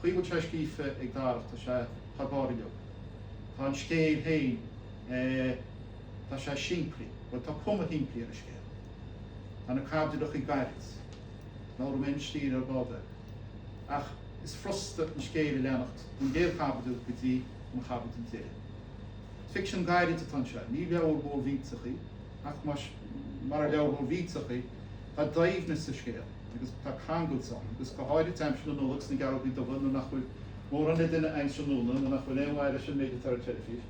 Chaoi go bhfuil sé scríofa ag Darach, tá sé thar barr. Tá an scéal féin, tá sé simplí, bhuel tá cuma shimplí ar an scéal. Tá na caibidilachí gairid, labhróidh mé ar an stíl ar ball de, ach is frusta an scéal a leanacht ón gcéad chaibidil go dtí an chaibidil deiridh. Ficsean gairid atá anseo, ní leabhar mór mhillteach í, ach murar leabhar mór mhillteach í, tá doimhneas sa scéal. agus tá cangailt ann, agus go háirid aimsir na Nollag sna Gearrógaí Dubha nuair nach bhfuil mórán le déanamh san iarnóin, nuair nach bhfuil aon mhaith leis an méid atá ar an teilifís.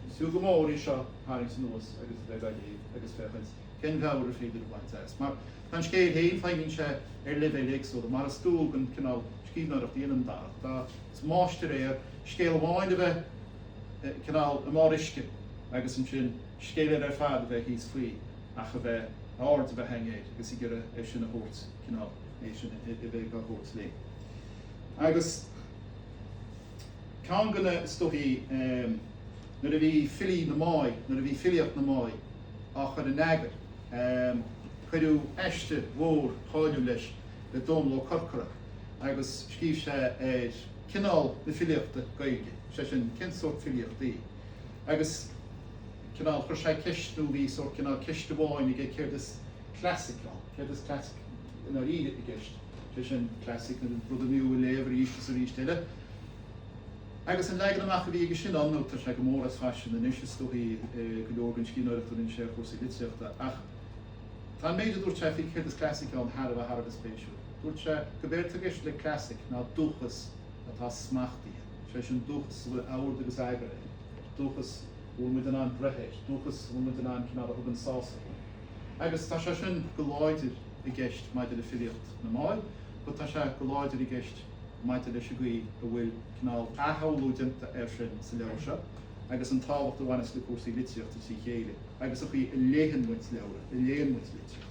Is fiú go mór í seo a tharraingt anuas agus a bheith ag léamh agus féachaint cén mheabhair is féidir a bhaint as. Mar tá an scéal féin, feidhmíonn sé ar leibhéil éagsúla, mar is dual don chineál scríbhneoireacht a dhéanann Darach. Tá is máistir é ar scéal amháin a bheith cineál i mbarr uisce agus ansin, scéal eile ar fad a bheith thíos faoi ach a bheith, a aird a bheith againn air agus ag iarraidh é sin a thabhairt, cineál, é sin a bheith dhá thabhairt linn. Agus ceann de na, is dóichí, nuair a bhí filí na, nuair a bhí filíocht na mbard á chur in eagar, cuireadh aiste mhór cháiliúil leis, le Dónall Ó Corcora agus scríobh sé ar chineál na filíochta Gaeilge, sé sin, cén sórt filíocht í. Agus cineál, chuir sé ceist, nó bhí sórt cineál ceist amháin aige, céard is classic ann, céard is classic i ndáiríre i gceist, sé sin, classic nó rud ab fhiú a léamh arís is arís eile. Agus an leagan amach a bhí aige sin ann, nó tá sé go mór as faisean anois is dóichí go leor den scríbhneoireacht a rinne sé ar chúrsaí litríochta, ach tá an méid a dúirt sé faoi céard is classic ann thar a bheith thar a bheith spéisiúil. Dúirt sé, gurbh éard tá i gceist le classic ná dúchas atá smachtaithe. sé sin dúchas a bhfuil ord agus eagar air, dúchas a bhfuil muid in ann breith air, dúchas a bhfuil muid in ann cineál a thugann sásamh dúinn. Agus tá sé sin go láidir i gceist maidir le filíocht na mbard but tá sé go láidir i gceist maidir leis an gcaoi a bhfuil cineál athshamhlú déanta air sin sa leabhar seo agus an tábhacht a bhaineas le cúrsaí litríochta tríd a chéile agus an chaoi a léann muid leabhra, a léann muid litríocht.